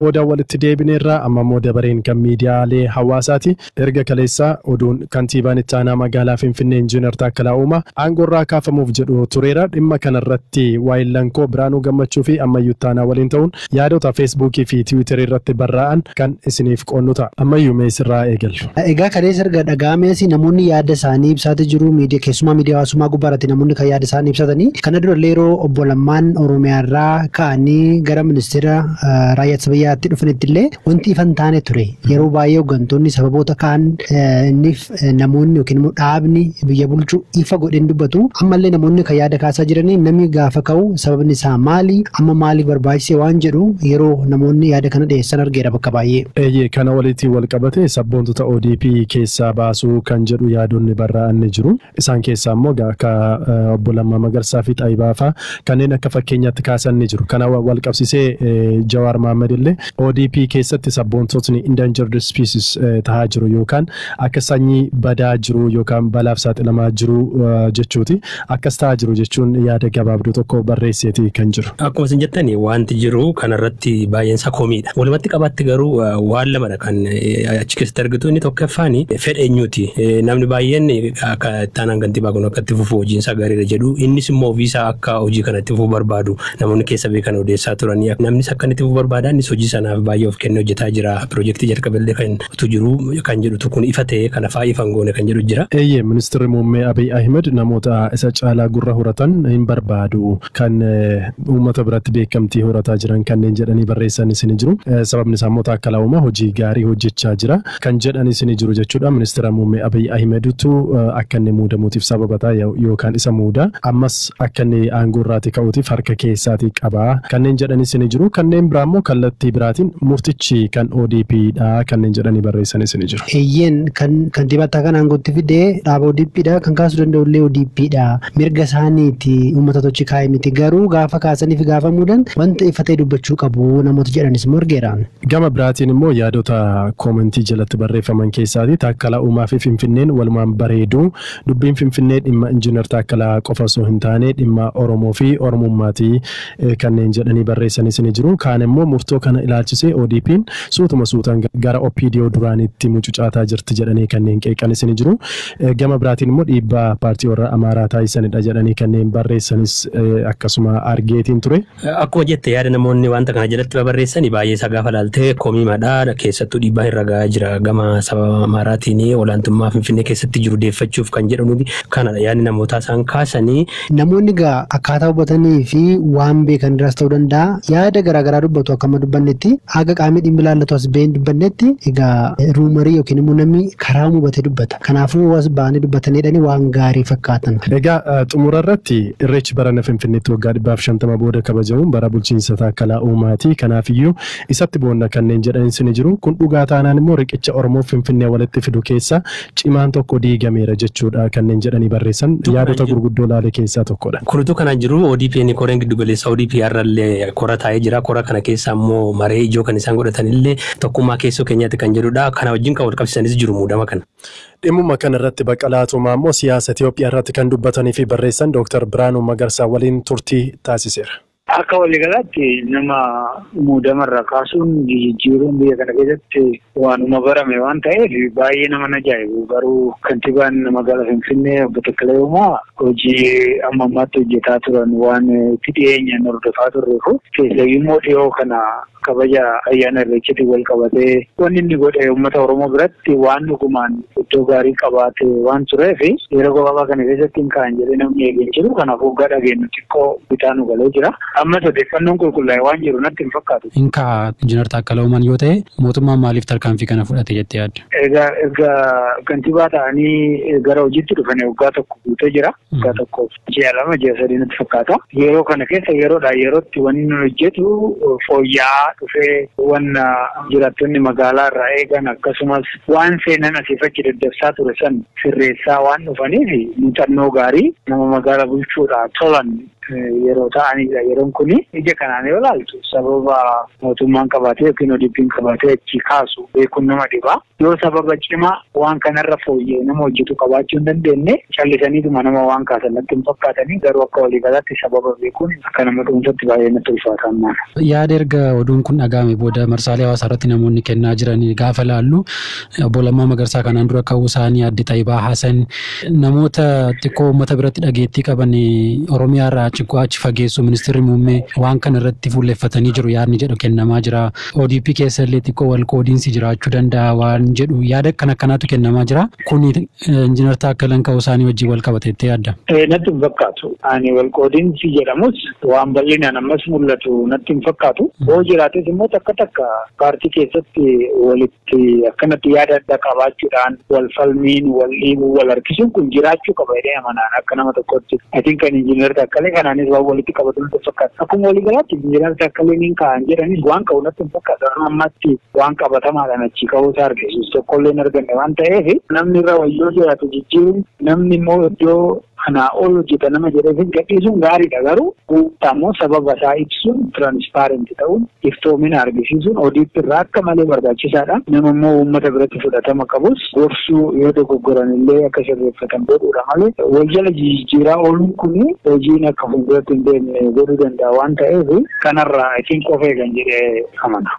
Booda walitti deebineerra. Amma immoo dabareen kan miidiyaalee hawaasaati. Erga kaleessa oduun Kantiibaan Itti Aanaa Magaalaa Finfinnee Injiinar Taakkalaa Uumaa aangoorraa kaafamuuf jedhu tureera. Dhimma kanarratti waahillanko Biraanuu Gammachuufi Ammayyuu Ittaanaa waliin ta'uun yaadota Feesbuukiifi Tiwiitariirratti barraa'an kan isiniif qoodnu ta'a. Ammayyuu mee sirraa eegallu. Egaa kaleessa erga dhaga'ameesi namoonni yaada isaanii ibsaati jiru. Miidiya keessumaa miidiya hawaasummaa gubbaa irratti namoonni kan yaada isaan ibsatanii. Kana dura illee yeroo obbo Lammaan Oromiyaa irraa ka'anii gara ministeera raayyaa ittisa biyyaatti dhufanitti illee wanti ifa hin taane ture. Yeroo baay'ee hooggantoonni sababoota kaan inniif namoonni yookiin immoo dhaabni biyya bulchu ifa godhee hin dubbatu. Ammallee namoonni kan yaada kaasaa jiranii namni gaafa ka'u sababni isaa maali? Amma maaliif barbaachise waan jedhu yeroo namoonni yaada kana dhiyeessan argeera bakka baay'ee. Eeyyee kana waliitiin wal qabatee sabboontota odp keessaa baasuu kan jedhu yaadonni barraa'an ni jiru. Isaan keessaa immoo egaa akka obbo Lammaa Magarsaa fi Xayibaa faa kanneen akka fakkeenyaatti kaasan ni jiru. Kana walqabsisee Jawaar Mahammad illee odp keessatti sabboontotni endangered species tahaa jiru yookaan akka sanyii badaa jiruu yookaan balaaf saaxilamaa jiruu jechuuti. Akkas ta'aa jiru jechuun yaada gabaabduu tokko barreesseeti kan jiru. Akkuma isin jettan waanti jiru kana irratti baay'een isaa komiidha. Walumatti qabaatti garuu waan lamadha kan achi keessatti argitu inni tokkoffaan fedha eenyuuti. Namni baay'een akka ittaanaan kantiibaa kun akka itti fufu hojiin isaa gaariidha jedhu innis immoo ofii isaa akka hojii kana itti fufu barbaadu namoonni keessa beekan odeessaa turanii namnis akka inni itti fufu barbaada innis hojii sanaaf baay'ee of kennee hojjetaa jira piroojeektii jalqabellee kan tu jiru kan jedhutu kun ifa ta'ee kana faa ifa hin goone kan jedhu jira. Eeyyee, Ministirri Muummee Abiy Ahimad namoota isa caalaa gurra horatan hin barbaadu. Kan uummata biratti beekamtii horataa jiran kanneen jedhanii barreessanis ni jiru. Sababni isaa immoo Taakkalaawuma hojii gaarii hojjechaa jira kan jedhanis ni jiru jechuudha. Ministira Muummee Abiy Ahimedtu akka inni muudamuutiif sababa ta'a yookaan isa muuda. Ammas akka inni aangoo irraatii ka'uutiif harka keessaatii qaba kanneen jedhanis ni jiru. Kanneen biraa immoo kallattii biraatiin murtichi kan ODP dha kanneen jedhanii barreessanis ni jiru. Eeyyeen kan kantiibaa itti aanaan aangootti fide dhaaba ODP dha. Kan kaasuu danda'u illee ODP dha. Mirga isaaniiti uummata tochi kaa'e miti. Garuu gaafa kaasanii fi gaafa muudan wanta ifa ta'e dubbachuu qabu namoota jedhanis immoo argeera. Gama biraatiin immoo yaadota koomentii jalatti barreeffaman keessaatii Taakkalaa Uumaa fi Finfinneen walumaan bareedu Dubbiin Finfinnee dhimma Injiinar Taakkalaa qofa osoo hin taane dhimma Oromoo fi Oromummaati kanneen jedhanii barreessanis ni jiru. Kaan immoo murtoo kana ilaalchisee ODPn suutuma suutaan gara OPDO duraaniitti mucucaataa jirti jedhanii kanneen qeeqanis ni jiru. Gama biraatiin immoo dhiibbaa paartii warra Amaaraa taasisanidha jedhanii kanneen barreessanis akkasuma argeetiin ture. Akkuma jette yaada namoonni wanta kana jalatti babarreessani baay'ee isaa gaafa laalte komiimadha. Keessattuu dhiibbaan irra gahaa jira gama saba Amaaraatiin olaantummaa Finfinnee keessatti jiru deeffachuuf kan jedhanu kanadha yaadni namootaa isaan kaasani. Namoonni egaa akkaataa hubatanii fi waan beekan irraas ta'uu danda'a yaada garaagaraa dubbatu akka amma dubbannetti haga qaamni dhimmi ilaallatu as bahee hin dubbannetti egaa ruumarii yookiin immoo namni karaa hubatee dubbata. Kanaafuu was ba'anii dubbataniidhani waan gaarii fakkaatan. Egaa xumura irratti Irreechi barana Finfinneetti waggaa 150 booda kabajamuun bara bulchiinsa Taakkalaa Uumaati. Kanaaf iyyuu isatti boonna kanneen jedhanis ni jiru. Kun dhugaa taanaan immoo riqicha Oromoof Finfinnee walitti fidu keessaa cimaan tokko diigameera jechuudha kanneen jedhanii barreessan yaadota gurguddoo laale keessaa tokkodha. Kun utuu kanaan jiruu ODPn koreen giddugaleessaa ODP har'a illee kora taa'ee jira. Kora kana keessaa immoo maree ijoo kan isaan godhatan illee tokkummaa keessoo keenyaati kan jedhudha. Kana wajjin kan walqabsiisanis jiru muudama kana. Dhimmuma kana irratti Baqqalaa Tumaa immoo siyaasa Itoophiyaa irratti kan dubbatanii fi barreessan Dooktar Birhaanuu Magarsaa waliin turtii taasiseera. Akka waliigalaatti nama muudama irraa kaasuun jijijjiiruun biyya kana keessatti waanuma barame waan ta'eef baay'ee nama hin ajaa'ibu. Garuu kantiibaan magaalaa Finfinnee obbo Takkala Uumaa hojii amma ammaatti hojjetaa turan waan itti dhiyeenyaan hordofaa turreef keessayyuu immoo dhiyoo kana Kabaja ayyaana Irreechatiin walqabatee wanni inni godhe uummata Oromoo biratti waan dhugumaan iddoo gaarii qabaate waan tureef yeroo gabaabaa kana keessatti hin ka'an jedhee namni eege hin jiru. Kanaafuu hoggaa dhageenyu xiqqoo bitaa nu galee jira. Ammas odeeffannoon qulqullaa'e waan jiru natti hin fakkaatu. Hin ka'a. Injinar Taakkala Uumaan yoo ta'e mootummaan maaliif tarkaanfii kana fudhate jettee yaadda? Egaa erga kantibaa ta'anii gara hojiitti dhufanii waggaa tokko guutee jira. Waggaa tokkoof ji'a lama ji'a sadii natti fakkaata. Yeroo kana keessa yeroodhaa yerootti wanni nu hojjetu fooyya'aa dhufee wanna jiraattonni magaalaa irraa eegan akkasumas waan seenan asiif achi daddabsaa ture san sirreessaa waan dhufaniif muuxannoo gaarii nama magaala bulchuudhaa tolan yeroo ta'aniidha. Yeroon kun ija kanaan yoo ilaaltu sababa mootummaan qabaatee yookiin ODP'n qabaatee achi kaasu beekuun nama dhibaa. Yoo sababa cimaa waan kanarra fooyya'e nama hojjetu qabaachuu hin dandeenye callisaniituma nama waan kaasan natti hin fakkaatanii garuu akka waliigalaatti sababa beekuun akka nama dhuunfatti baay'ee natti ulfaata ammaana. Yaada erga oduun kun dhaga'ame booda marsaalee hawaasaa irratti namoonni kennaa jiran gaafa laallu obbo Lammaa Magarsaa kanaan dura ka'uu isaanii adde Xayibaa Hasan namoota xiqqoo uummata biratti dhageettii qaban Oromiyaa irraa ciqoo achi fageessu ministeerri muummee waan kana irratti fuulleffatanii jiru yaadni jedhu kennamaa jira. ODP keessa illee xiqqoo wal qoodiinsi jiraachuu danda'a waan jedhu yaada akkan akkanaatu kennamaa jira. Kuni Injiinar Taakkalan ka'uu isaanii wajjin wal qabata jettee yaadda? Natti hin fakkaatu. Ani wal qoodiinsi jedhamus waan bal'inaan ammas mul'atu natti hin fakkaatu. Yoo jiraates immoo takka takka paartii keessatti walitti tti akkanatti yaada adda qabaachuudhaan wal falmiin, wal dhiibuun, wal harkisuun kun jiraachuu qaba jedhee amana ani akka nama tokkootti. I think kan Injiinar Taakkalee kanaanis waan walitti qabatu natti hin fakkaatu. Akkuma walii galaatti Injiinar Taakkaleen hin ka'an jedhanis waan ka'u natti hin fakkaatu. Amma ammaatti waan qabatamaadhaan achii ka'uu isaa argisiisu tokkollee hin arganne waan ta'eef namni irra wayyoo jiraatu jijjiiruun namni immoo iddoo Kanaa ol hojjeta nama jedheefis gadhiisuun gaariidha garuu guutaa immoo sababa isaa ibsuun transparent ta'uun iftoomina argisiisuun audit irraa akka malee barbaachisaadha. Nama immoo uummata biratti fudhatama qabus gorsuu yoo dogoggoran illee akka sirreeffatan godhuudha malee wal jala jijijjiiraa ooluun kun hojiin akka fuulduratti hin deemne godhuu danda'a waan ta'eef kanarraa I think of eegan jedhee amana.